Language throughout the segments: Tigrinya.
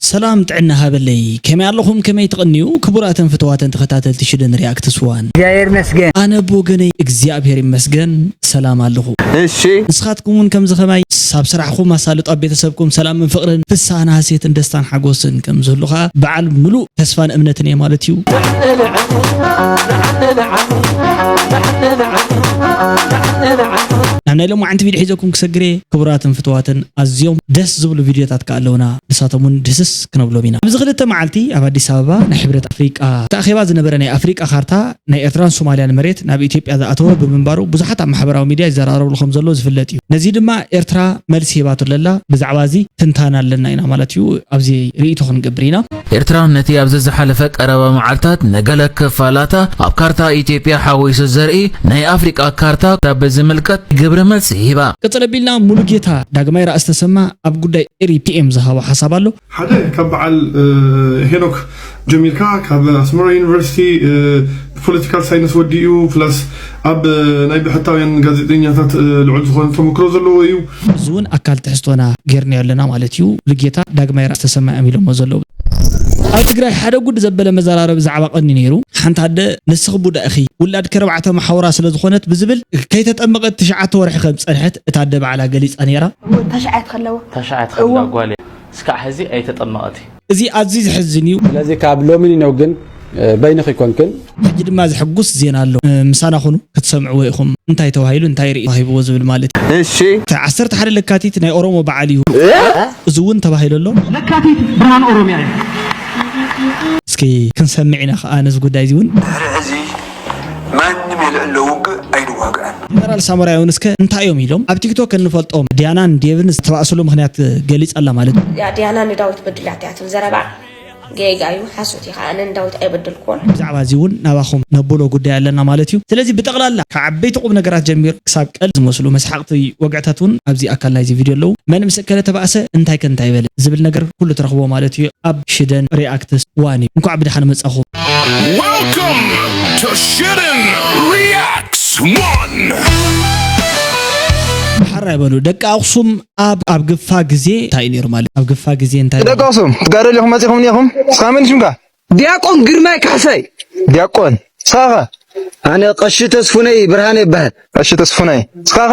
ሰላም ጥዕና ሃበለይ ከመይ ኣለኹም ከመይ ትቅንዩ ክቡራትን ፍትዋትን ተኸታተልቲ ሽደን ሪኣክትስ ዋን። እግዚኣብሔር ይመስገን። ኣነ ብወገነይ እግዚኣብሔር ይመስገን ሰላም ኣለኹ። እሺ። ንስኻትኩም እውን ከምዚ ከማይ ሳብ ስራሕኹም ኣሳልጦ ኣብ ቤተሰብኩም ሰላምን ፍቅርን ፍስሃን ሃሴትን ደስታን ሓጎስን ከምዝህሉ ከኣ በዓል ምሉእ ተስፋን እምነትን እየ ማለት እዩ። ናብ ናይ ሎማዓንቲ ቪድዮ ሒዘኩም ክሰግር እየ ክቡራትን ፍትዋትን ኣዝዮም ደስ ዝብሉ ቪድዮታት ከኣ ኣለውና። ንሳቶም እውን ድህስስ ክነብሎም ኢና። ኣብዚ ክልተ መዓልቲ ኣብ ኣዲስ ኣበባ ናይ ሕብረት ኣፍሪቃ እቲ ኣኼባ ዝነበረ ናይ ኣፍሪቃ ካርታ ናይ ኤርትራን ሶማልያን መሬት ናብ ኢትዮጵያ ዝኣተወ ብምንባሩ ብዙሓት ኣብ ማሕበራዊ ሚድያ ይዘራረብሉ ከምዘለዉ ዝፍለጥ እዩ። ነዚ ድማ ኤርትራ መልሲ ሂባቶ ለላ። ብዛዕባ እዚ ትንታነ ኣለና ኢና ማለት እዩ። ኣብዚ ርእይቶ ክንገብር ኢና። ኤርትራ ነቲ ኣብዚ ዝሓለፈ ቀረባ መዓልታት ንገለ ክፋላታ ኣብ ካርታ ኢትዮጵያ ሓዊሱ ዘርኢ ናይ ኣፍሪቃ ካርታ ብዝምልከት ግብረ መልሲ ሂባ። ቅጽል ኣቢልና ሙሉጌታ ዳግማይ ራእሲ ተሰማ፣ ኣብ ጉዳይ ኤሪ ፒኤም ዝሃቦ ሓሳብ ኣሎ። ሓደ ካብ በዓል ሄኖክ ጀሚርካ ካብ ኣስመራ ዩኒቨርሲቲ ብፖለቲካል ሳይንስ ወዲኡ ፕላስ ኣብ ናይ ብሕታውያን ጋዜጠኛታት ልዑል ዝኾነ ተመክሮ ዘለዎ እዩ። እዚ ውን ኣካል ትሕዝቶና ጌርናዮ ኣለና ማለት እዩ። ሙሉጌታ ዳግማይ ራእሲ ተሰማ እዮም ኢሎሞ ዘለዉ። ኣብ ትግራይ ሓደ ጉድ ዘበለ መዘራረቢ ዛዕባ ቀንዩ ነይሩ። ሓንቲ ኣደ ንስኺ ቡዳ ኢኺ፣ ውላድኪ ኣርባዕተ መሓውራ ስለዝኾነት ብዝብል ከይተጠመቐት ትሽዓተ ወርሒ ከምዝፀንሐት እታ ኣደ ባዕላ ገሊፃ ነይራ። ታሽዓት ከለዋ ታሽዓት ከለዋ ጓል እያ እስካዕ ሕዚ ኣይተጠመቐት እያ። እዚ ኣዝዩ ዘሕዝን እዩ። ስለዚ ካብ ሎሚ ንነው ግን በይንኺ ኮንክን። ሕጂ ድማ ዘሕጉስ ዜና ኣሎ ምሳና ኩኑ ክትሰምዕዎ ኢኹም። እንታይ ተባሂሉ እንታይ ርእይቶ ተዋሂብዎ ዝብል ማለት እዩ። እሺ። እቲ ዓሰርተ ሓደ ለካቲት ናይ ኦሮሞ በዓል እዩ እዚ እውን ተባሂሉ ኣሎ። ለካቲት ብርሃን ኦሮሚያ እዩ። እስኪ ክንሰምዕ ኢና ከኣ ነዚ ጉዳይ እዚ እውን። ድሕሪ ሕዚ ማንም የልዕሎ ውግእ ኣይንዋግኣን። ጀነራል ሳሞራ ዮኑስ ከ እንታይ እዮም ኢሎም? ኣብ ቲክቶክ እንፈልጦም ዲያናን ዴቭን ዝተባእስሉ ምኽንያት ገሊጻ ኣላ ማለት ድዩ? እዚኣ ዲያና ንዳዊት በዲላቶ እያ ትብል ዘረባ ጌጋ እዩ ሓሶት እዩ ከዓ ኣነ ንዳዊት ኣይበደልክዎን። ብዛዕባ እዚ እውን ናባኹም ነብሎ ጉዳይ ኣለና ማለት እዩ። ስለዚ ብጠቕላላ ካብ ዓበይቲ ቁም ነገራት ጀሚሩ ክሳብ ቀልዲ ዝመስሉ መስሓቕቲ ወግዕታት እውን ኣብዚ ኣካል ናይዚ ቪድዮ ኣለዉ። መን ምስ እከለ ተባእሰ እንታይከ እንታይ በለ ዝብል ነገር ኩሉ ትረኽብዎ ማለት እዩ ኣብ ሽደን ሪኣክትስ ዋን እዩ። እንኳዕ ብደሓን መጻኹም። Welcome to Shittin' Reacts One! ሓራይ በሉ ደቂ ኣኽሱም ኣብ ኣብ ግፋ ግዜ እንታይ ነይሩ ማለት ኣብ ግፋ ግዜ እንታይ ደቂ ኣኽሱም ትጋደሉ ኢኹም መጺኹም ኔኹም እስኻ መን ሽምካ ዲያቆን ግርማይ ካሕሳይ ዲያቆን እስኻኸ ኣነ ቀሺ ተስፉነይ ብርሃነ ይበሃል ቀሺ ተስፉነይ እስኻኸ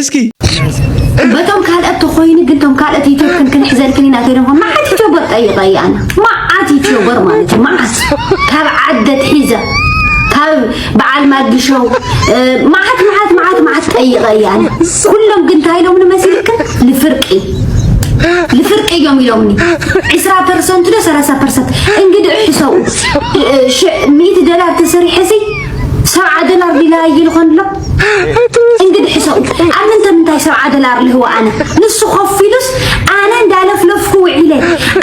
እስኪ በቶም ካልኦት ተኮይኑ ግን ቶም ካልኦት ዩቱብ ክንክንሕዘልክን ኢና ተይሎም መዓት ዩቱበር ጠይቀ እያ ኣነ መዓት ዩቱበር ማለት እዩ መዓት ካብ ዓደት ሒዘ ካብ በዓል ማግሸው መዓት መዓት መዓት መዓት ጠይቀ እያ ኣነ ኩሎም ግን እንታይ ኢሎም ንመሲልክን ልፍርቂ ልፍርቂ እዮም ኢሎምኒ ዕስራ ፐርሰንት ዶ ሰላሳ ፐርሰንት እንግዲህ ሕሰው ሚእቲ ደላር ተሰሪሐ ሲ ሰብዓ ደላር ዲላ ይልኾን ኣሎ እንግዲህ ሕሰው አምንተ ምንታይ ሰብ ዓደል አርልህዎ አነ ንሱ ኮፍ ኢሉስ አነ እንዳለፍለፍኩ ውዒለ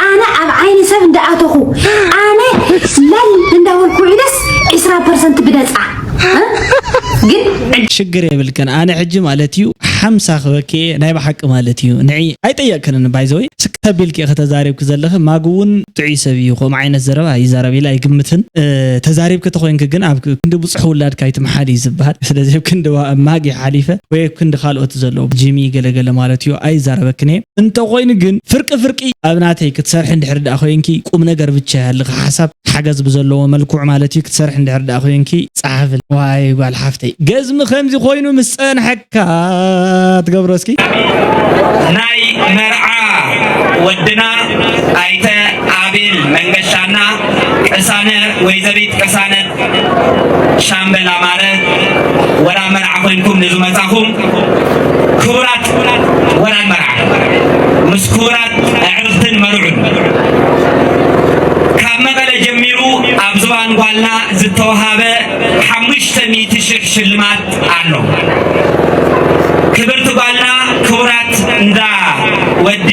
አነ ኣብ ዓይኒ ሰብ እንዳኣተኹ አነ ለል እንዳበልኩ ውዒለስ ዕስራ ፐርሰንት ብነፃ ግን ሽግር የብልክን ኣነ ሕጂ ማለት እዩ ሓምሳ ክበክ ናይ ብሓቂ ማለት እዩ ንዒ ኣይጠየቅክንን ባይዘወይ ስከቢልክ ከተዛሪብክ ዘለኺ ማግ እውን ጥዑይ ሰብ እዩ ከምኡ ዓይነት ዘረባ ይዛረብ ኢለ ኣይግምትን ተዛሪብክ ተኮይንክ ግን ኣብ ክንዲ ብዝሕ ውላድካ ኣይትምሓል እዩ ዝብሃል ስለዚ ኣብ ክንዲ ማጊ ሓሊፈ ወይ ኣብ ክንዲ ካልኦት ዘሎ ጂሚ ገለ ገለ ማለት እዩ ኣይዛረበክን እየ እንተኮይኑ ግን ፍርቂ ፍርቂ ኣብ ናተይ ክትሰርሒ እንድሕር ድኣ ኮይንኪ ቁምነገር ብቻ ይሃልኺ ሓሳብ ሓገዝ ብዘለዎ መልኩዕ ማለት እዩ ክትሰርሒ እንድሕር ድኣ ኮይንኪ ጸሓፍል ዋይ ጓል ሓፍተይ ገዝሚ ከምዚ ኮይኑ ምስ ጸንሐኪ ከኣ ትገብሮ እስኪ ናይ መርዓ ወድና ኣይተ ኣቤል መንገሻና ቅሳነ ወይዘሪት ቅሳነት ሻምበል ኣማረ ወራን መርዓ ኮይንኩም ንዝመፃኹም ክቡራት ወራን መርዓ ምስ ክቡራት ኣዕርኽትን መርዑን ካብ መቐለ ጀሚሩ ኣብ ዝባን ጓልና ዝተውሃበ ሓሙሽተ ሚእቲ ሽሕ ሽልማት ኣሎ ክብርቲ ጓልና ክቡራት እንዳ ወዲ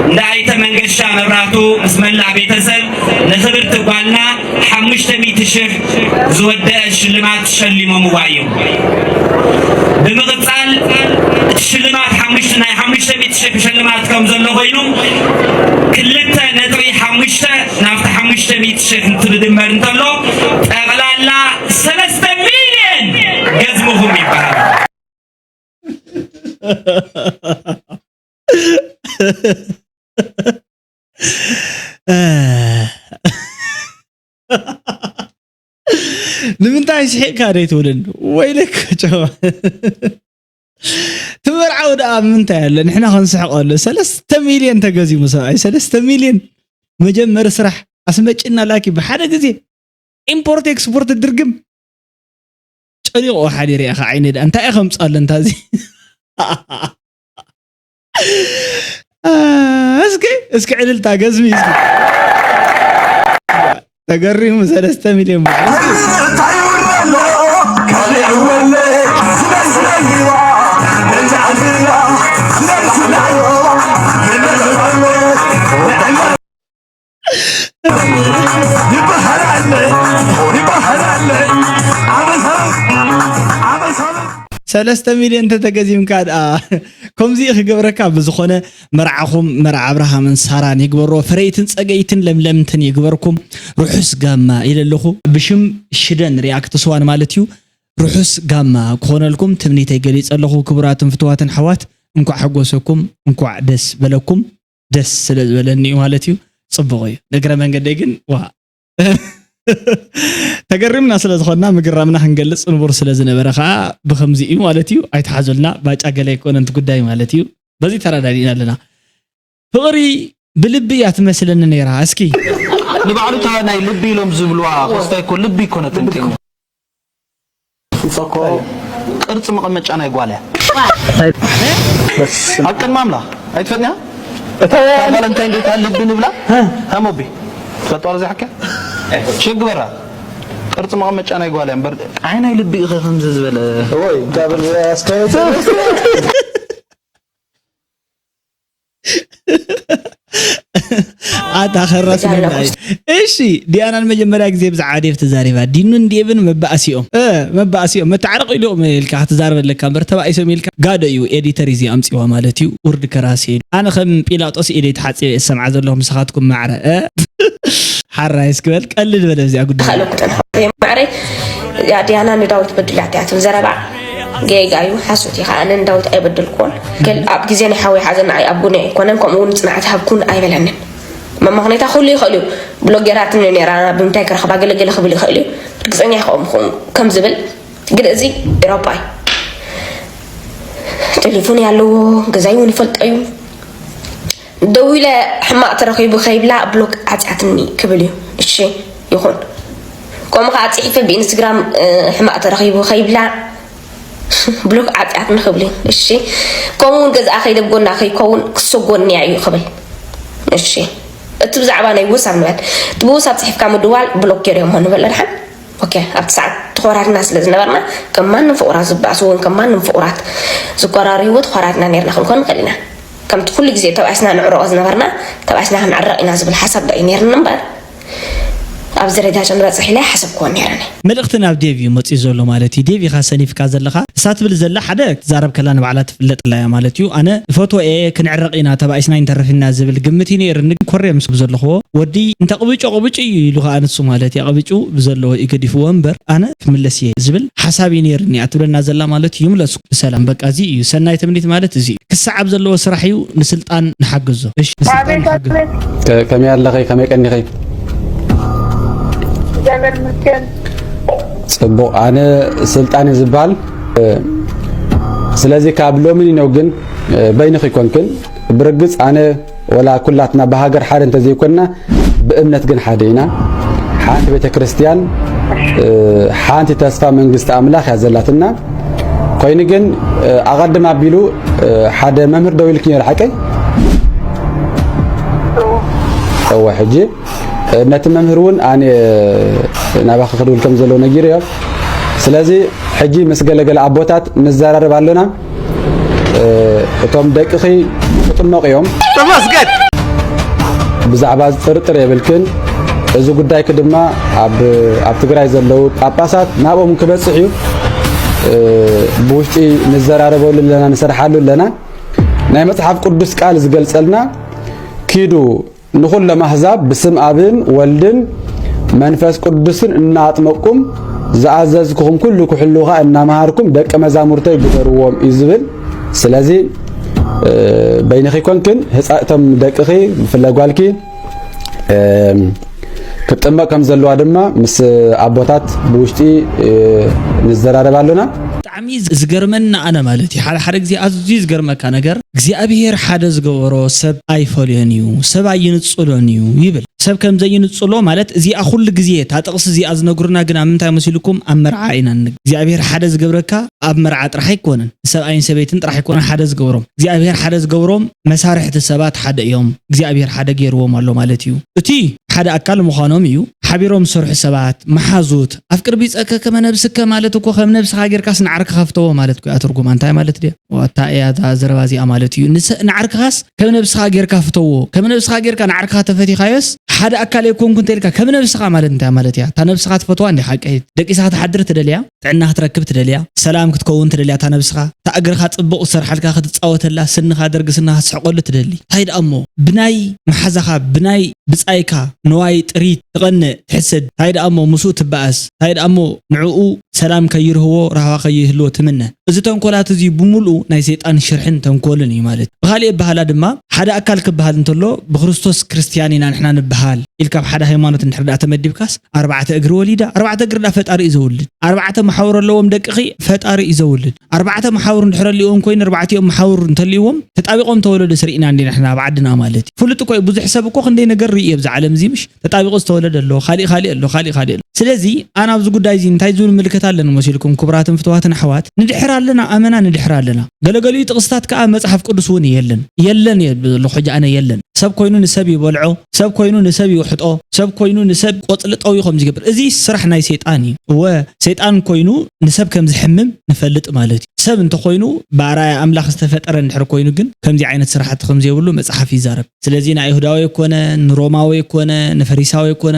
እንዳ ኣይተ መንገሻ መብራቱ ምስ መላእ ቤተሰብ ንክብርቲ ጓልና ሓሙሽተ ሚእቲ ሽሕ ዝወደአ ሽልማት ሸሊሞምዋ እዮም። ብምቕፃል እቲ ሽልማት ሓሙሽተ ናይ ሓሙሽተ ሚእቲ ሽሕ ሽልማት ከም ዘሎ ኮይኑ ክልተ ነጥቢ ሓሙሽተ ናብቲ ሓሙሽተ ሚእቲ ሽሕ እንትብድመር እንተሎ ጠቕላላ ሰለስተ ሚልየን ገዝምኹም ይበሃል ንምንታይ ስሒቕካ ዶ ይትብልን ወይልክ ጨዋ ትመርዓው ደኣ ምንታይ ኣለ ንሕና ክንስሕቀሉ ሰለስተ ሚልዮን ተገዚሙ ሰብኣይ ሰለስተ ሚልዮን መጀመሪ ስራሕ ኣስመጭና ላኪ ብሓደ ግዜ ኢምፖርት ኤክስፖርት ድርግም ጨኒቑ ሓዲረ ኢኻ ዓይነ ድኣ እንታይ እዩ ከምፃለ እንታዚ እስኪ እስኪ ዕልልታ ገዝሚ እስኪ ተገሪሙ ሰለስተ ሚልዮን ብር ሰለስተ ሚልዮን እንተተገዚምካ ድኣ ከምዚ እዩ ክገብረካ ብዝኾነ መርዓኹም መርዓ ኣብርሃምን ሳራን ይግበሮ ፈረይትን ፀገይትን ለምለምትን ይግበርኩም ርሑስ ጋማ ኢለ ኣለኹ ብሽም ሽደን ሪያክት ስዋን ማለት እዩ ርሑስ ጋማ ክኾነልኩም ትምኒተይ ገሊፀ ኣለኹ ክቡራትን ፍትዋትን ኣሕዋት እንኳዕ ሓጎሰኩም እንኳዕ ደስ በለኩም ደስ ስለ ዝበለኒ እዩ ማለት እዩ ፅቡቅ እዩ ንእግረ መንገደይ ግን ዋ ተገሪምና ስለ ዝኾንና ምግራምና ክንገልፅ ንቡር ስለ ዝነበረ ከዓ ብከምዚ እዩ ማለት እዩ ኣይተሓዙልና ባጫ ገለ ኣይኮነን እቲ ጉዳይ ማለት እዩ በዚ ተረዳዲእና ኣለና ፍቕሪ ብልቢ እያ ትመስለኒ ነይራ እስኪ ንባዕሉ እታ ናይ ልቢ ኢሎም ዝብልዋ ኮስታይ እኮ ልቢ ኣይኮነትን ፉፀ እኮ ቅርፂ መቐመጫ ናይ ጓል እያ ኣብ ቅድሚ ኣምላኽ ኣይትፈጥንያ እታ ጓል እንታይ እንዶ እታ ልቢ ንብላ እታ ሞቢ ትፈልጥዋ ዶ ዘይሓካ ሸግ ግበራ ቅርፂ መቐመጫ ናይ ጓል እያ እምበር ኣይ ናይ ልቢ ኢኸ ከምዚ ዝበለ ወይ እንታይ በል ኣስካየት ኣታ ከረስነና እዩ። እሺ ዲያና ንመጀመርያ ግዜ ብዛዕባ ዴቭ ተዛሪባ ዲኑን ዴቭን መባእሲኦም እ መባእሲኦም መታዕረቕ ኢሉም ኢልካ ክትዛረብ ኣለካ እምበር ተባኢሶም ኢልካ ጋዶ እዩ ኤዲተር እዩ ኣምፂዋ ማለት እዩ ውርድ ከራሲ ኢሉ ኣነ ከም ጲላጦስ ኢደይ ተሓፂበ እየ ዝሰምዓ ዘለኹ ምሳኻትኩም ማዕረ እ ሓራይ እስክበል ቀልድ በለ እዚኣ ጉዳይ ማዕረይ ዲያና ንዳዊት በድላትያትን ዘረባ ጌጋ እዩ ሓሶት ኢኻ ኣነ ንዳዊት ኣይበደልክዎን ኣብ ግዜ ናይ ሓወይ ሓዘን ንዓይ ኣቡነ ኣይኮነን ከምኡ እውን ፅንዓት ሃብኩን ኣይበለንን መማኽኔታ ኩሉ ይኽእል እዩ ብሎጌራት ነራ ብምንታይ ክረኽባ ገለገለ ክብል ይኽእል እዩ ርግፀኛ ይኸውን ምኹን ከም ዝብል ግን እዚ ኤሮፓ እዩ ቴሌፎን ያለዎ ገዛይ እውን ይፈልጦ እዩ ደዊለ ሕማቅ ተረኪቡ ከይብላ ብሎክ ዓጽያትኒ ክብል እዩ እሺ ይኩን ከምኡ ከዓ ፅሒፈ ብኢንስትግራም ሕማቅ ተረኪቡ ከይብላ ብሎክ ዓጽያትኒ ክብል እዩ እሺ ከምኡ እውን ገዝኣ ከይደ ጎና ከይከውን ክሰጎንያ እዩ ክብል እሺ እቲ ብዛዕባ ናይ ውሳብ ንበል እቲ ብውሳብ ፅሒፍካ ምድዋል ብሎክ ገይረሞ ንበል ድሓን ኦኬ ኣብቲ ሰዓት ተኮራርና ስለ ዝነበርና ከም ማንም ፍቁራት ዝበኣሱ እውን ከም ማንም ፍቁራት ዝኮራርይዎ ተኮራርና ነርና ክንኮን ንኽእል ኢና ከምቲ ኩሉ ግዜ ተባኢስና ንዕረቆ ዝነበርና ተባኢስና ክንዕረቕ ኢና ዝብል ሓሳብ ዶ እዩ ኔርኒ እምበር ኣብዚ ደረጃ እዚ ንበጽሕ ኢለ ኣይሓሰብክዎን ኔረ እኔ። መልእኽቲ ናብ ዴቭ እዩ መጺኡ ዘሎ ማለት እዩ ዴቭ ኢኻ ሰኒፍካ ዘለኻ እሳ ትብል ዘላ ሓደ ክትዛረብ ከላ ንባዕላ ትፍለጥላ እያ ማለት እዩ ኣነ እፈትዎ እየ ክንዕረቅ ኢና ተባኢስና ኣይንተርፍንና ዝብል ግምት እዩ ነይርኒ ግን ኮርየ ምስ ብዘለኽዎ ወዲ እንተቅብጩ ኣቅብጩ እዩ ኢሉ ከኣ ንሱ ማለት እዩ ኣቅብጩ ብዘለዎ እዩ ገዲፍዎ እምበር ኣነ ክምለስ እየ ዝብል ሓሳብ እዩ ነይርኒ እያ ትብለና ዘላ ማለት እዩ ምለስኩ ብሰላም በቃ እዚ እዩ ሰናይ ትምኒት ማለት እዚ እዩ ክሰዓብ ዘለዎ ስራሕ እዩ ንስልጣን ንሓግዞ እሺ ንስልጣን ንሓግዞ ከመይ ኣለኺ ከመይ ቀኒኺ ፅቡቕ ኣነ ስልጣን ዝበሃል ስለዚ ካብ ሎሚ ነው ግን በይንኺ ኮንክን ብርግፅ ኣነ ወላ ኩላትና ብሃገር ሓደ እንተዘይኮንና ብእምነት ግን ሓደ ኢና። ሓንቲ ቤተ ክርስቲያን ሓንቲ ተስፋ መንግስቲ ኣምላኽ እያ ዘላትና። ኮይኑ ግን ኣቐድም ኣቢሉ ሓደ መምህር ደው ኢልኪ ነይሩ ሓቀይ እወ ሕጂ ነቲ መምህር እውን ኣነ ናባኺ ክድውል ከም ዘለዎ ነጊሩ እዮ ስለዚ ሕጂ ምስ ገለገለ ኣቦታት ንዘራረብ ኣለና እቶም ደቅኺ ክጥመቑ እዮም። ተመስገን ብዛዕባ እዚ ጥርጥር የብልክን። እዚ ጉዳይኪ ድማ ኣብ ኣብ ትግራይ ዘለዉ ጳጳሳት ናብኦም ክበጽሕ እዩ። ብውሽጢ ንዘራረበሉ ኣለና ንሰርሓሉ ኣለና። ናይ መጽሓፍ ቅዱስ ቃል ዝገልጸልና ኪዱ ንዅሎም ኣህዛብ ብስም ኣብን ወልድን መንፈስ ቅዱስን እናኣጥመቅኩም ዝኣዘዝኩኹም ኩሉ ክሕልዉ ኸኣ እናመሃርኩም ደቀ መዛሙርተይ ግበርዎም እዩ ዝብል ስለዚ በይንኺ ኮንክን ህፃእቶም ደቅኺ ብፍላይ ጓልኪ ክትጥመቅ ከም ዘለዋ ድማ ምስ ኣቦታት ብውሽጢ ንዘራረብ ኣሎና ብጣዕሚ ዝገርመኒ ኣነ ማለት እዩ ሓደ ሓደ ግዜ ኣዝዩ ዝገርመካ ነገር እግዚኣብሄር ሓደ ዝገበሮ ሰብ ኣይፈልዮን እዩ ሰብ ኣይንጽሎን እዩ ይብል ሰብ ከም ዘይንጽሎ ማለት እዚኣ ኩሉ ግዜ እታ ጥቕሲ እዚኣ ዝነግሩና ግን ኣብ ምንታይ መሲልኩም ኣብ መርዓ ኢና ን እግዚኣብሄር ሓደ ዝገብረካ ኣብ መርዓ ጥራሕ ኣይኮነን ንሰብኣይን ሰበይትን ጥራሕ ኣይኮነን ሓደ ዝገብሮም እግዚኣብሄር ሓደ ዝገብሮም መሳርሕቲ ሰባት ሓደ እዮም እግዚኣብሄር ሓደ ገይርዎም ኣሎ ማለት እዩ እቲ ሓደ ኣካል ምዃኖም እዩ ሓቢሮም ዝሰርሑ ሰባት መሓዙት ኣፍቅር ቢጸከ ከመ ነብስከ ማለት እኮ ከም ነብስኻ ጌርካስ ንዓርክኻ ፍተዎ ማለት እኮ እያ ትርጉማ እንታይ ማለት ድያ ዋታ እያ እዛ ዘረባ እዚኣ ማለት እዩ ንዓርክኻስ ከም ነብስኻ ጌርካ ፍተዎ ከም ነብስኻ ጌርካ ንዓርክኻ ተፈቲኻዮስ ሓደ ኣካል የኮንኩ እንተልካ ከም ነብስኻ ማለት እንታይ ማለት እያ እታ ነብስኻ ትፈትዋ እንዲኻ ቀይት ደቂስኻ ትሓድር ትደልያ ጥዕና ክትረክብ ትደልያ ሰላም ክትከውን ትደልያ እታ ነብስኻ እታ እግርኻ ጽቡቕ ዝሰርሓልካ ክትጻወተላ ስንኻ ደርጊ ስንኻ ትስሕቀሉ ትደሊ እንታይ ደኣ እሞ ብናይ መሓዛኻ ብናይ ብጻይካ ንዋይ ጥሪት ትቐነ ትሕሰድ ታይ ድኣሞ ምስኡ ትባኣስ ታይ ድኣሞ ንዕኡ ሰላም ከይርህዎ ራህዋ ከይህልዎ ትምነ እዚ ተንኮላት እዙይ ብሙሉኡ ናይ ሰይጣን ሽርሕን ተንኮልን እዩ ማለት እዩ ብኻሊእ ኣባህላ ድማ ሓደ ኣካል ክባሃል እንተሎ ብክርስቶስ ክርስትያን ኢና ንሕና ንባሃል ኢልካ ኣብ ሓደ ሃይማኖት እንድሕር ድኣ ተመዲብካስ ኣርባዕተ እግሪ ወሊዳ ኣርባዕተ እግሪ ድኣ ፈጣሪ እዩ ዘውልድ ኣርባዕተ መሓውር ኣለዎም ደቅኺ ፈጣሪ እዩ ዘውልድ ኣርባዕተ መሓውር እንድሕር ኣልዎም ኮይኑ ኣርባዕቲኦም መሓውር እንተልዎም ተጣቢቆም ተወለዱ ስርኢና እንዲና ንሕና ኣብ ዓድና ማለት እዩ ፍሉጥ እኮ እዩ ብዙሕ ሰብ እኮ ክንደይ ነገር ርኢ ኣብዚ ዓለም እዚ ምሽ ተጣቢቁ ዝተወለደ ኣሎ ካሊእ ካሊእ ኣሎ ካሊእ ካሊእ ኣሎ ስለዚ ኣና ኣብዚ ጉዳይ እዚ እንታይ ዝብል ምልከት ኣለኒ መሲልኩም ክቡራትን ፍትዋትን ኣሕዋት ንድሕር ኣለና ኣመና ንድሕር ኣለና ገለገሊኡ ጥቅስታት ከኣ መጽሓፍ ቅዱስ እውን የለን የለን እየ ዘለኹ ሕጂ ኣነ የለን ሰብ ኮይኑ ንሰብ ይበልዖ ሰብ ኮይኑ ንሰብ ይውሕጦ ሰብ ኮይኑ ንሰብ ቆጽሊ ጠውዩ ከምዚ ይገብር እዚ ስራሕ ናይ ሰይጣን እዩ እወ ሰይጣን ኮይኑ ንሰብ ከም ዝሕምም ንፈልጥ ማለት እዩ ሰብ እንተ ኮይኑ ብኣርኣያ ኣምላኽ ዝተፈጠረ እንድሕር ኮይኑ ግን ከምዚ ዓይነት ስራሕቲ ከም ዘይብሉ መጽሓፍ ይዛረብ ስለዚ ንኣይሁዳዊ ኮነ ንሮማዊ ኮነ ንፈሪሳዊ ኮነ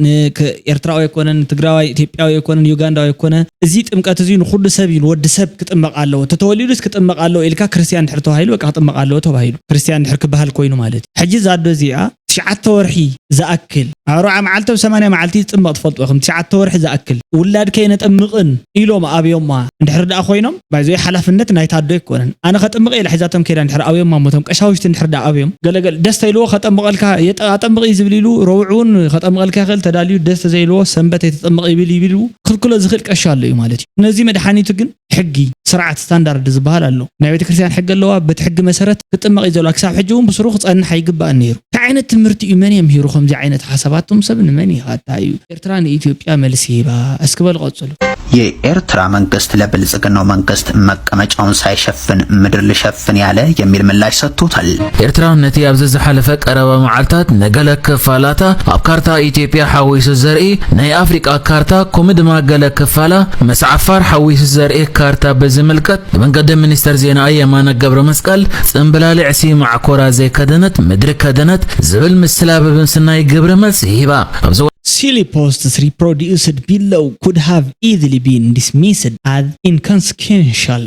ንኤርትራዊ ኮነ ንትግራዋይ ኢትዮጵያዊ ኮነ ንዩጋንዳዊ ኮነ እዚ ጥምቀት እዚ ንኹሉ ሰብ እዩ ንወዲ ሰብ ክጥመቕ ኣለዎ ተተወሊዱስ ክጥመቕ ኣለዎ ኢልካ ክርስትያን እንድሕር ተባሂሉ በቃ ክጥመቕ ኣለዎ ተባሂሉ ክርስትያን ድሕር ክበሃል ኮይኑ ማለት እዩ ሕጂ እዛ ኣዶ እዚኣ ትሽዓተ ወርሒ ዝኣክል ኣብ ኣርብዓ መዓልቲ ኣብ ሰማንያ መዓልቲ ይጽመቕ ትፈልጥዎ ኢኹም ትሽዓተ ወርሒ ዝኣክል ውላድኪ ኣይነጠምቕን ኢሎም ኣብዮማ እንድሕር ድኣ ኮይኖም ባይ ዘ ዌይ ሓላፍነት ናይታ ኣዶ ኣይኮነን ኣነ ከጥምቕ እየ ኢላ ሒዛቶም ከይዳ እንድሕር ኣብዮማ እሞ እቶም ቀሻውሽቲ እንድሕር ድኣ ኣብዮም ገለ ገለ ደስ ተኢልዎ ከጠምቐልካ የጠ ኣጠምቕ እዩ ዝብል ኢሉ ረቡዕ እውን ከጠምቐልካ ይኽእል ተዳልዩ ደስ ተዘይልዎ ሰንበት ኣይተጠምቕ ይብል ይብል ክልክሎ ዝኽእል ቀሺ ኣሎ እዩ ማለት እዩ ነዚ መድሓኒቱ ግን ሕጊ፣ ስርዓት፣ ስታንዳርድ ዝበሃል ኣሎ። ናይ ቤተ ክርስቲያን ሕጊ ኣለዋ፣ በቲ ሕጊ መሰረት ክጥመቕ እዩ ዘልዋ፣ ክሳብ ሕጂ እውን ብስሩ ክጸንሕ ኣይግባእን ነይሩ። እንታይ ዓይነት ትምህርቲ እዩ መን የምሂሩ ከምዚ ዓይነት ሓሳባት እቶም ሰብ ንመን ይካታ እዩ ኤርትራ ንኢትዮጵያ መልሲ ሂባ እስኪ በሉ ቀጽሉ። የኤርትራ መንግስት ለብልጽግናው መንግስት መቀመጫውን ሳይሸፍን ምድር ልሸፍን ያለ የሚል ምላሽ ሰጥቶታል። ኤርትራ ነቲ ኣብ ዘዝሓለፈ ቀረባ መዓልታት ንገለ ክፋላታ ኣብ ካርታ ኢትዮጵያ ሓዊሱ ዘርኢ ናይ ኣፍሪቃ ካርታ ከምኡ ድማ ገለ ክፋላ ምስ ዓፋር ሓዊሱ ዘርኢ ካርታ ብዝምልከት ብመንገዲ ሚኒስተር ዜናኣ የማነ ገብረ መስቀል ጽምብላሊዕሲ ማዕኮራ ዘይከደነት ምድሪ ከደነት ዝብል ምስላ ብምስናይ ግብረ መልሲ ሂባ። Silly posts reproduced below could have easily been dismissed as inconsequential.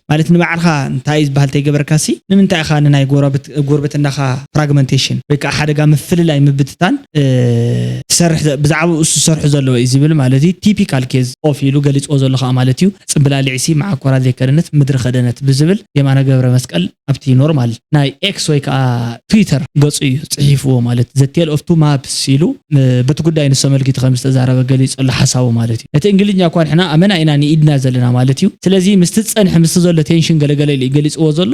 ማለት ንባዕልኻ እንታይ ዝበሃል ተይገበርካሲ ንምንታይ ኢኻ ንናይ ጎረብትናኻ ፍራግመንቴሽን ወይ ከኣ ሓደጋ ምፍልላይ ምብትታን ትሰርሕ ብዛዕባኡ ዝሰርሑ ዘለዉ ኢዩ ዝብል ማለት ኢዩ ቲፒካል ኬዝ ኦፍ ኢሉ ገሊጽዎ ዘሎ ከኣ ማለት ኢዩ ጽምብላሊዕሲ መዓኮራ ዘይከደነት ምድሪ ከደነት ብዝብል የማነ ገብረመስቀል ኣብቲ ኖርማል ናይ ኤክስ ወይ ከኣ ትዊተር ገጹ ኢዩ ጽሒፍዎ ማለት ዘ ቴል ኦፍ ቱ ማፕስ ኢሉ በቲ ጉዳይ ንሱ ኣመልኪቱ ከም ዝተዛረበ ገሊጹ ኣሎ ሓሳቡ ማለት እዩ ነቲ እንግሊዝኛ እኳ ንሕና ኣመና ኢና ንኢድና ዘለና ማለት እዩ ስለዚ ምስቲ ዝጸንሐ ምስቲ ዘሎ ቴንሽን ገለ ገለ ኢሉ እዩ ገሊጽዎ ዘሎ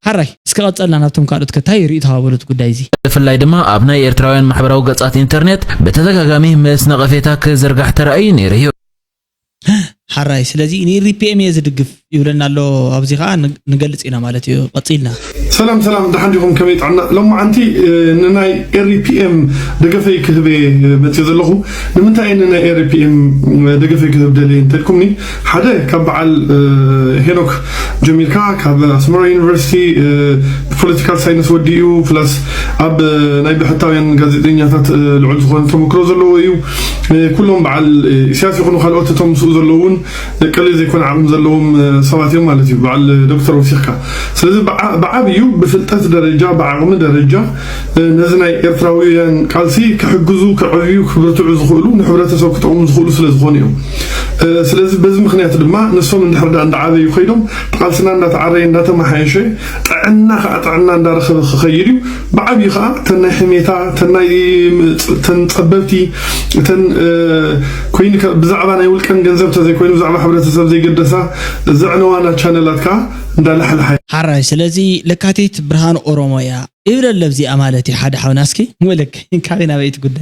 ሓራይ እስከ ቀጸልና ናብቶም ካልኦት ከ ታይ ሪኢቶ ሃበሉ እቲ ጉዳይ እዚ ብፍላይ ድማ ኣብ ናይ ኤርትራውያን ማሕበራዊ ገጻት ኢንተርኔት ብተደጋጋሚ ምስ ነቐፌታ ክዝርጋሕ ተራእዩ ነይሩ እዩ። ሐራይ ስለዚ ንኢሪፒኤም እየ ዝድግፍ ይብለና ኣሎ ኣብዚ ከዓ ንገልፅ ኢና ማለት እዩ ቀፂልና ሰላም ሰላም ደሓን ዲኹም ከመይ ጥዕና ሎማዓንቲ ንናይ ኤሪፒኤም ደገፈይ ክህበ መፅእ ዘለኹ ንምንታይ ንናይ ኤሪፒኤም ደገፈይ ክህብ ደልየ እንተልኩምኒ ሓደ ካብ በዓል ሄኖክ ጀሚርካ ካብ ኣስመራ ዩኒቨርሲቲ ፖለቲካል ሳይንስ ወዲኡ ፕላስ ኣብ ናይ ብሕታውያን ጋዜጠኛታት ልዑል ዝኾነ ተመክሮ ዘለዎ እዩ ኩሎም በዓል ኢሳያስ ይኹኑ ካልኦት እቶም ምስኡ ዘለዉ እውን ቀሊል ዘይኮነ ዓቕሚ ዘለዎም ሰባት እዮም ማለት እዩ በዓል ዶክተር ወሲኽካ ስለዚ ብዓብዩ ብፍልጠት ደረጃ ብዓቕሚ ደረጃ ነዚ ናይ ኤርትራውያን ቃልሲ ክሕግዙ ክዕብዩ ክብርትዑ ዝኽእሉ ንሕብረተሰብ ክጠቕሙ ዝኽእሉ ስለ ዝኾኑ እዮም ስለዚ በዚ ምክንያት ድማ ንሶም እንድሕር ዳ እንዳዓበዩ ከይዶም ቃልስና እንዳተዓረየ እንዳተመሓየሸ ጥዕና ከዓ ጥዕና እንዳረኸበ ክኸይድ እዩ ብዓብዩ ከኣ እተን ናይ ሕሜታ እተን ናይ እተን ጸበብቲ እተን ኮይኑ ብዛዕባ ናይ ውልቀን ገንዘብ ተዘይኮይኑ ብዛዕባ ሕብረተሰብ ዘይገደሳ ዘዕነዋና ቻነላት ከኣ እንዳላሕላሓ ሐራይ ስለዚ ለካቲት ብርሃን ኦሮሞ እያ እብለለ ብዚኣ ማለት እዩ ሐደ ሐውና እስኪ ሙልክ ካበይ ናበይ እቲ ጉዳይ።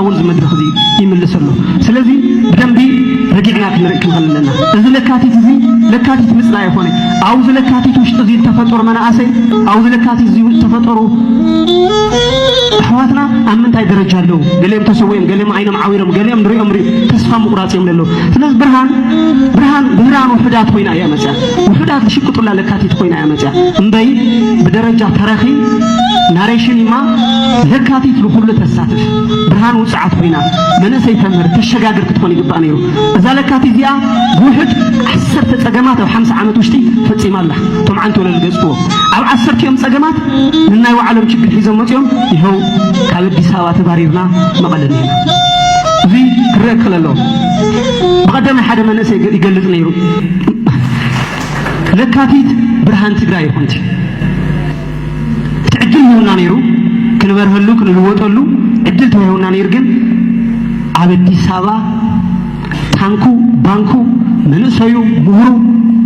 እውን እዚ መድረኽ እዚ ይምልስ ኣሎ። ስለዚ ብደንቢ ረጊዕና ክንርኢ ክንኸል ኣለና። እዚ ለካቲት እዚ ለካቲት ምጽላይ ኣይኮነ። ኣብዚ ለካቲት ውሽጢ እዚ ዝተፈጠሩ መናእሰይ ኣብዚ ለካቲት እዚ ዝተፈጠሩ ኣሕዋትና ኣብ ምንታይ ደረጃ ኣለዉ? ገሊኦም ተሰዊኦም፣ ገሊኦም ዓይኖም ዓዊሮም፣ ገሊኦም ንሪኦም ሪኡ ተስፋ ምቑራጽ እዮም ዘለዉ። ስለዚ ብርሃን ብርሃን ብርሃን ውሑዳት ኮይና እያ መጽያ ውሑዳት ዝሽቅጡላ ለካቲት ኮይና እያ መጽያ እምበይ ብደረጃ ተረኺ ናሬሽን ይማ ለካቲት ብኹሉ ተሳተ ብርሃን ውጽዓት ኮይና መነሰይ ተምህር ተሸጋግር ክትኾን ይግባእ ነይሩ። እዛ ለካቲ እዚኣ ብውሕድ ዓሰርተ ጸገማት ኣብ ሓምሳ ዓመት ውሽጢ ፈጺማ ኣላ። እቶም ዓንቲ ወለል ገጽዎ ኣብ ዓሰርቲኦም ጸገማት ንናይ ባዕሎም ችግር ሒዞም መጺኦም ይኸው ካብ ኣዲስ ኣበባ ተባሪርና መቐለ ኒና እዚ ክረአ ክኽእል ኣለዎ። ብቐደማይ ሓደ መንእሰይ ይገልጽ ነይሩ ለካቲት ብርሃን ትግራይ ይኹንቲ እቲ ዕድል ሂቡና ነይሩ ክንበርሀሉ ክንልወጠሉ ዕድል ተዋሂቡና ነይሩ ግን ኣብ ኣዲስ ኣበባ ታንኩ ባንኩ መንእሰዩ ምሁሩ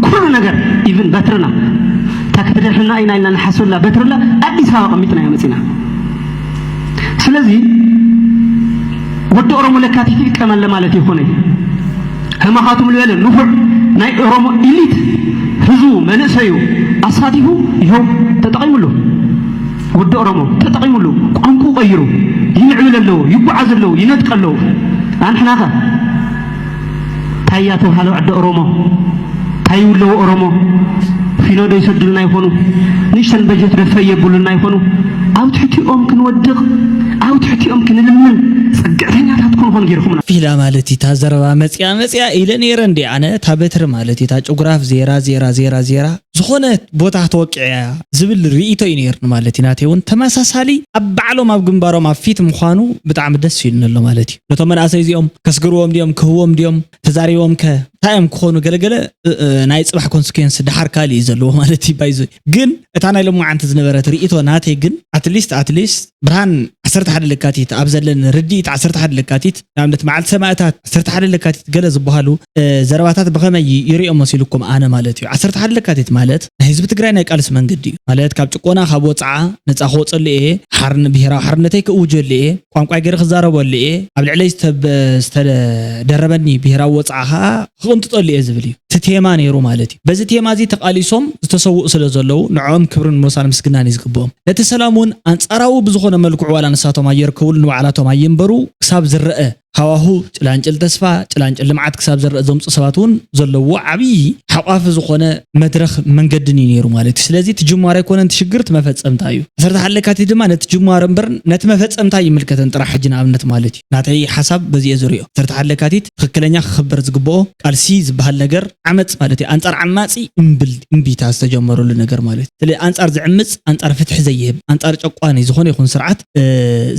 ኩሉ ነገር ኢቭን በትርና እታ ክትደርሕና ኢና ኢልና ንሓስበላ በትርላ ኣዲስ ኣበባ ቀሚጥና ኢና መፂና ስለዚ ወዲ ኦሮሞ ለካቲት ይጥቀመለ ማለት ይኾነ ከማኻትም ልበለ ንፉዕ ናይ ኦሮሞ ኢሊት ህዝቡ መንእሰዩ ኣሳቲፉ ይሀው ተጠቒሙሉ። ወዲ ኦሮሞ ተጠቒሙሉ ቋንቁኡ ቀይሩ ይምዕብል ኣለዉ ይጓዓዝ ኣለዉ ይነጥቅ ኣለዉ ኣንሕናኸ ታያ ተብሃለ ዕደ ኦሮሞ ታይ ይብለዉ ኦሮሞ ፊኖ ዶ ይሰዱልና ይኾኑ ንእሽተን በጀት ዶ ፈይ የብሉልና ይኾኑ ኣብ ትሕቲኦም ክንወድቅ ኣብ ትሕቲኦም ክንልምን ፅግዕተኛታት ክንኾን ገይርኹምና። ፊላ ማለት እዩ እታ ዘረባ መጺኣ መጺኣ ኢለ ነይረ እንድየ ኣነ እታ በትሪ ማለት እዩ እታ ጭጉራፍ ዜራ ዜራ ዜራ ዜራ ዝኾነ ቦታ ተወቂዓ እያ ዝብል ሪኢቶ እዩ ነይርኒ ማለት እዩ ናተይ እውን ተመሳሳሊ ኣብ ባዕሎም ኣብ ግንባሮም ኣብ ፊት ምዃኑ ብጣዕሚ ደስ ኢሉኒ ኣሎ ማለት እዩ ነቶም መናእሰይ እዚኦም ከስግርዎም ድዮም ክህዎም ድዮም ተዛሪቦም ከ እንታይ እዮም ክኾኑ ገለገለ ናይ ፅባሕ ኮንስኩንስ ድሓር ካልእ እዩ ዘለዎ ማለት እዩ ባይዞ ግን እታ ናይ ሎማዓንቲ ዝነበረት ርእቶ ናተይ ግን ኣትሊስት ኣትሊስት ብርሃን 11 ለካቲት ኣብ ዘለን ርድኢት 11 ለካቲት ንኣብነት መዓልቲ ሰማእታት 11 ለካቲት ገለ ዝበሃሉ ዘረባታት ብኸመይ ይሪኦ መሲልኩም ኣነ ማለት እዩ 11 ለካቲት ማለት ናይ ህዝቢ ትግራይ ናይ ቃልሲ መንገዲ እዩ። ማለት ካብ ጭቆና ካብ ወጽዓ ነጻ ክወጸሉ እየ፣ ሓርን ብሄራዊ ሓርነተይ ክእውጀሉ እየ፣ ቋንቋይ ገይረ ክዛረበሉ እየ፣ ኣብ ልዕለይ ዝተደረበኒ ብሄራዊ ወጽዓ ከኣ ክቕንጥጠሉ እየ ዝብል እዩ። እቲ ቴማ ነይሩ ማለት እዩ። በዚ ቴማ እዚ ተቓሊሶም ዝተሰውኡ ስለ ዘለዉ ንዕኦም ክብርን ሞሳን ምስግናን እዩ ዝግብኦም። ነቲ ሰላም እውን ኣንጻራዊ ብዝኾነ መልክዑ ዋላ ንሳቶም ኣየርከብሉ ንባዕላቶም ኣየንበሩ ክሳብ ዝረኣ ሃዋሁ ጭላንጭል ተስፋ፣ ጭላንጭል ልምዓት ክሳብ ዝረኣ ዘምፁ ሰባት እውን ዘለዎ ዓብዪ ሓቋፊ ዝኾነ መድረኽ መንገድን እዩ ነይሩ ማለት እዩ። ስለዚ እቲ ጅማሮ ኣይኮነን እቲ ሽግር እቲ መፈፀምታ እዩ። ዓሰርተ ሓደ ለካቲት ድማ ነቲ ጅማሮ እምበር ነቲ መፈፀምታ ኣይምልከትን ጥራሕ ሕጂ ንኣብነት ማለት እዩ። ናተይ ሓሳብ በዚ እየ ዝሪኦ። ዓሰርተ ሓደ ለካቲት ትኽክለኛ ክኽበር ዝግበኦ ቃልሲ ዝበሃል ነገር ዓመፅ ማለት እዩ። ኣንፃር ዓማፂ እምቢታ ዝተጀመረሉ ነገር ማለት እዩ። ስለ ኣንፃር ዝዕምፅ ኣንፃር ፍትሒ ዘይህብ ኣንፃር ጨቋኒ ዝኾነ ይኹን ስርዓት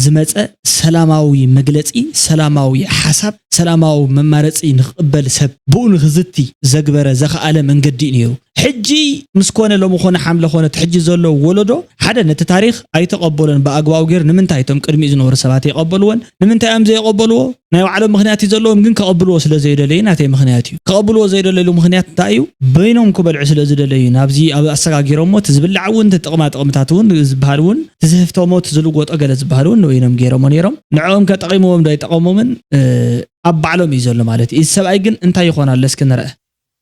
ዝመፀ ሰላማዊ መግለፂ ሰላማዊ ሓሳብ ሰላማዊ መማረፂ ንክቕበል ሰብ ብኡ ንክዝቲ ዘግበረ ዘኸኣለ መንገዲ እዩ ነይሩ። ሕጂ ምስ ኮነ ሎሚ ኮነ ሓምለ ኮነ እቲ ሕጂ ዘሎ ወለዶ ሓደ ነቲ ታሪኽ ኣይተቐበሎን ብኣግባቡ ገይሩ ንምንታይ እቶም ቅድሚኡ ዝነበሩ ሰባት የቐበልዎን ንምንታይ እዮም ዘይቐበልዎ ናይ ባዕሎም ምኽንያት እዩ ዘለዎም ግን ከቐብልዎ ስለ ዘይደለዩ ናተይ ምኽንያት እዩ። ከቐብልዎ ዘይደለሉ ምኽንያት እንታይ እዩ? በይኖም ክበልዑ ስለ ዝደለዩ ናብዚ ኣብ ኣሰጋጊሮሞ እቲ ዝብላዕ እውን እቲ ጥቕማ ጥቕምታት እውን ዝበሃል እውን እቲ ዝህፍተሞ እቲ ዝልወጦ ገለ ዝበሃል እውን ንበይኖም ገይሮሞ ነይሮም ንዕኦምከ ጠቒምዎም ዶ ኣይጠቐሞምን ኣብ ባዕሎም እዩ ዘሎ ማለት እዩ። እዚ ሰብኣይ ግን እንታይ ይኾን ኣሎ እስኪ ንርኣ።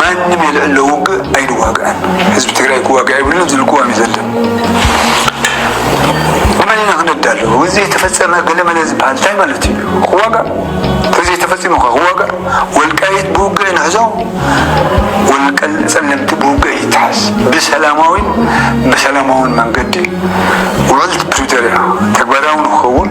ማንም የልዕሎ ውግእ ኣይንዋግኣን ህዝቢ ትግራይ ክዋግእ ኣይብሉን ዝብል ቅዋም እዩ ዘለን ንመን ኢና ክነዳሉ እዚ ዘይተፈፀመ ገለመለ ዝበሃል እንታይ ማለት እዩ ክዋጋ ተዘይተፈፂሙ ከ ክዋጋ ወልቃይት ብውግእ ንሕዞ ወልቀል ፀለምቲ ብውግእ ይትሓዝ ብሰላማዊን ብሰላማዊን መንገዲ ውዕልቲ ፕሪቶሪያ ተግባራዊ ንክኸውን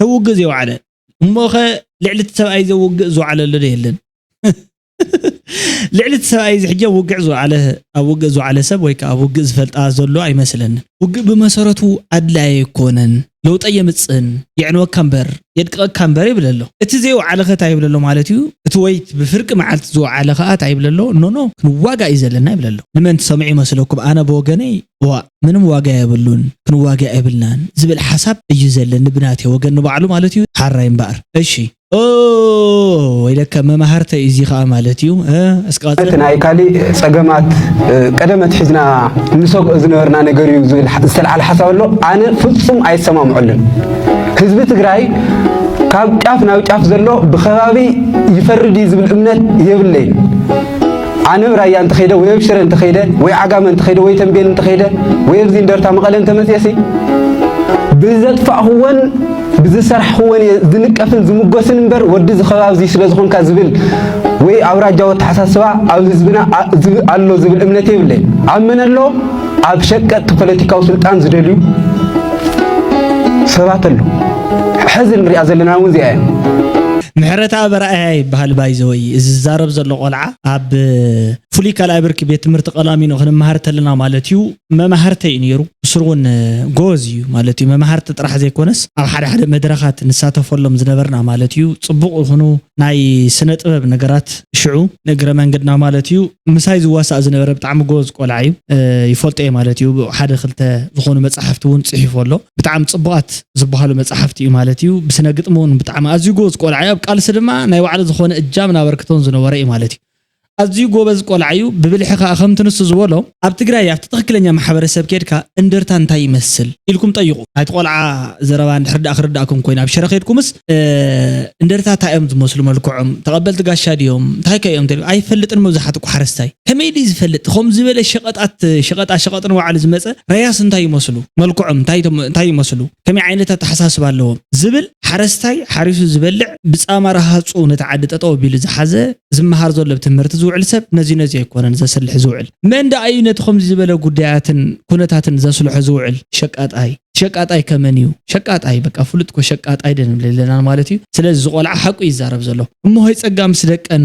ተውግእ ዘይወዓለ እሞኸ ልዕሊ እቲ ሰብኣይ ዘውግእ ዝወዓለሉ ዶ የለን? ልዕሊ እቲ ሰብኣይ እዚ ሕጂ ኣብ ውግዕ ዝወዓለ ኣብ ውግእ ዝወዓለ ሰብ ወይ ከዓ ኣብ ውግእ ዝፈልጣ ዘሎ ኣይመስለንን። ውግእ ብመሰረቱ ኣድላይ ኣይኮነን፣ ለውጢ ኣየምጽእን፣ የዕንወካ እምበር፣ የድቅቐካ እምበር ይብል ኣሎ። እቲ ዘይወዓለ ከ ታይ ይብል ኣሎ ማለት እዩ? እቲ ወይት ብፍርቂ መዓልቲ ዝወዓለ ከኣ ታይ ይብል ኣሎ? ኖኖ ክንዋጋእ እዩ ዘለና ይብል ኣሎ። ንመን ትሰምዑ ይመስለኩም? ኣነ ብወገነይ ዋእ ምንም ዋጋ የብሉን ክንዋጋእ የብልናን ዝብል ሓሳብ እዩ ዘለኒ ብናተይ ወገን ንባዕሉ ማለት እዩ ሓራይ እምበኣር እሺ ኦው ወይለከ መማህርተይ እዚ ከዓ ማለት እዩ እስኪ ቀፅል እቲ ናይ ካሊእ ፀገማት ቀደም ኣትሒዝና ንሰግኦ ዝነበርና ነገር እዩ ዝብል ዝተልዓለ ሓሳብ ኣሎ ኣነ ፍፁም ኣይሰማምዐሉን ህዝቢ ትግራይ ካብ ጫፍ ናብ ጫፍ ዘሎ ብከባቢ ይፈርድ እዩ ዝብል እምነት የብለይን ኣነ እብ ራያ እንተኸይደ ወይ እብ ሽረ እንተኸይደ ወይ ዓጋመ እንተኸይደ ወይ ተምቤን እንተኸይደ ወይ እብዚ እንደርታ መቐለ እንተመፅኤሲ ብዘጥፋእኹዎን ብዝሰራሕኹዎን እየ ዝንቀፍን ዝምጎስን እምበር ወዲ ዝኸባብ እዚ ስለ ዝኾንካ ዝብል ወይ ኣውራጃዊ ኣተሓሳስባ ኣብ ህዝብና ኣሎ ዝብል እምነት የብለይ። ኣብ መን ኣሎ? ኣብ ሸቀጥቲ ፖለቲካዊ ስልጣን ዝደልዩ ሰባት ኣሎ። ሕዚ ንሪኣ ዘለና እውን እዚኣ እያ። ምሕረታ በራእያ ይበሃል ባይዘወይ እዚ ዝዛረብ ዘሎ ቆልዓ ኣብ ፍሉይ ካልኣይ ብርኪ ቤት ትምህርቲ ቀላሚኖ ክንመሃር ተለና ማለት እዩ መማህርተይ እዩ ነይሩ ብስሩ እውን ጎበዝ እዩ ማለት እዩ መማህርቲ ጥራሕ ዘይኮነስ ኣብ ሓደ ሓደ መድረኻት ንሳተፈሎም ዝነበርና ማለት እዩ ፅቡቕ ይኹኑ ናይ ስነ ጥበብ ነገራት ሽዑ ንእግረ መንገድና ማለት እዩ ምሳይ ዝዋሳእ ዝነበረ ብጣዕሚ ጎበዝ ቆልዓ እዩ ይፈልጦ እየ ማለት እዩ ሓደ ክልተ ዝኾኑ መጻሕፍቲ እውን ጽሒፉ ኣሎ ብጣዕሚ ጽቡቓት ዝበሃሉ መጻሕፍቲ እዩ ማለት እዩ ብስነ ግጥሚ እውን ብጣዕሚ ኣዝዩ ጎበዝ ቆልዓ እዩ ኣብ ቃልሲ ድማ ናይ ባዕሉ ዝኾነ እጃምን ኣበርክቶን ዝነበረ እዩ ማለት እዩ ኣዝዩ ጎበዝ ቆልዓ እዩ ብብልሒ ከዓ ከምቲ ንሱ ዝበሎ ኣብ ትግራይ ኣብቲ ትኽክለኛ ማሕበረሰብ ኬድካ እንደርታ እንታይ ይመስል ኢልኩም ጠይቁ ናይቲ ቆልዓ ዘረባ እንድሕር ደኣ ክርዳእኩም ኮይኑ ኣብ ሽረ ከድኩምስ እንደርታ ታይ እዮም ዝመስሉ መልክዖም ተቀበልቲ ጋሻ ድዮም እንታይ ከ እዮም ተልም ኣይፈልጥን መብዛሕትኡ እኮ ሓረስታይ ከመይ ድዩ ዝፈልጥ ከምዚ ዝበለ ሸቀጣት ሸቀጣ ሸቀጥ ንባዕሉ ዝመፀ ረያስ እንታይ ይመስሉ መልክዖም እንታይ እንታይ ይመስሉ ከመይ ዓይነት ኣተሓሳስባ ኣለዎም ዝብል ሓረስታይ ሓሪሱ ዝበልዕ ብጻማ ረሃጹ ነቲ ዓዲ ጠጠው ኣቢሉ ዝሓዘ፣ ዝመሃር ዘሎ ኣብ ትምህርቲ ዝውዕል ሰብ ነዚ ነዚ ኣይኮነን ዘስልሕ ዝውዕል። መን ደኣ እዩ ነቲ ከምዚ ዝበለ ጉዳያትን ኩነታትን ዘስልሖ ዝውዕል? ሸቃጣይ። ሸቃጣይ ከ መን እዩ? ሸቃጣይ በቃ ፍሉጥ እኮ ሸቃጣይ ደንብለለና ማለት እዩ። ስለዚ እዚ ቆልዓ ሓቁ እዩ ዝዛረብ ዘሎ። እሞ ሆይ ጸጋ ምስ ደቀን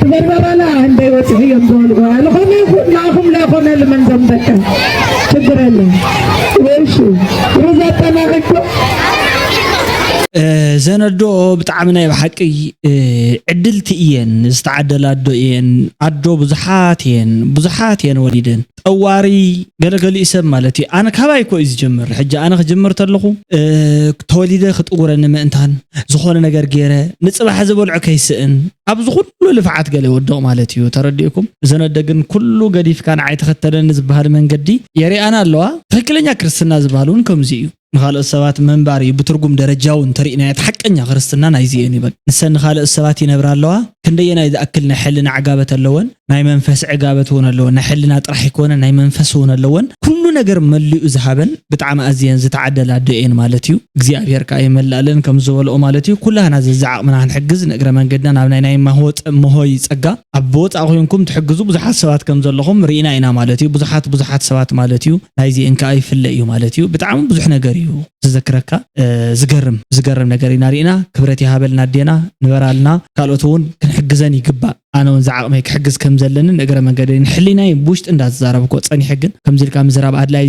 ትበርበራላ እንደይ ወፅሒ እዮም ዝበልዎ ዝኾነ ይኹን ንኣኹም ለይኮነ ልመን ዘም ደቀ ችግር የለን ወይሹ ሩዝ ኣጠናቂኩም ዘነዶ ብጣዕሚ ናይ ብሓቂ ዕድልቲ እየን ዝተዓደላ ኣዶ እየን ኣዶ ብዙሓት እየን ብዙሓት እየን ወሊደን ጠዋሪ ገለ ገሊኡ ሰብ ማለት እዩ ኣነ ካባይ እኮ እዩ ዝጀምር ሕጂ ኣነ ክጅምር ተለኹ ተወሊደ ክጥውረኒ ምእንታን ዝኾነ ነገር ገይረ ንጽባሕ ዝበልዖ ከይስእን ኣብዚ ኩሉ ልፍዓት ገለ ይወድቕ ማለት እዩ ተረዲእኩም እዘን ኣደ ግን ኩሉ ገዲፍካ ንዓይ ተኸተለኒ ዝበሃል መንገዲ የሪኣና ኣለዋ ትክክለኛ ክርስትና ዝበሃል እውን ከምዚ እዩ ንኻልኦት ሰባት ምንባር እዩ ብትርጉም ደረጃዊ እንተሪእናዮ እቲ ሓቀኛ ክርስትና ናይዚ እየን ይበል ንሰን ንኻልኦት ሰባት ይነብራ ኣለዋ ክንደየናይ ዝኣክል ናይ ሕልና ዕጋበት ኣለወን ናይ መንፈስ ዕጋበት እውን ኣለወን ናይ ሕልና ጥራሕ ኣይኮነን ናይ መንፈስ እውን ኣለወን ኩሉ ነገር መሊኡ ዝሃበን ብጣዕሚ ኣዝየን ዝተዓደላ ኣዶ እየን ማለት እዩ እግዚኣብሔር ከኣ ይመልኣለን ከም ዝበልኦ ማለት እዩ ኩላህና ዘዝዓቅምና ክንሕግዝ ንእግረ መንገድና ናብ ናይ ናይ መሆይ ጸጋ ኣብ ብወጻኢ ኮንኩም ትሕግዙ ብዙሓት ሰባት ከም ዘለኹም ርኢና ኢና ማለት እዩ ብዙሓት ብዙሓት ሰባት ማለት እዩ ናይዚ እንከኣ ይፍለ እዩ ማለት እዩ ብጣዕሚ ብዙሕ ነገር እዩ ዝዘክረካ ዝገርም ዝገርም ነገር ኢና ርኢና ክብረት ይሃበልና ኣዴና ንበራልና ካልኦት እውን ክንሕግዘን ይግባእ ኣነ እውን ዝዓቕመይ ክሕግዝ ከም ዘለንን እግረ መንገደይ ንሕሊናይ ብውሽጢ እንዳተዛረብኮ ጸኒሐ ግን ከምዚ ኢልካ ምዝራብ ኣድላይ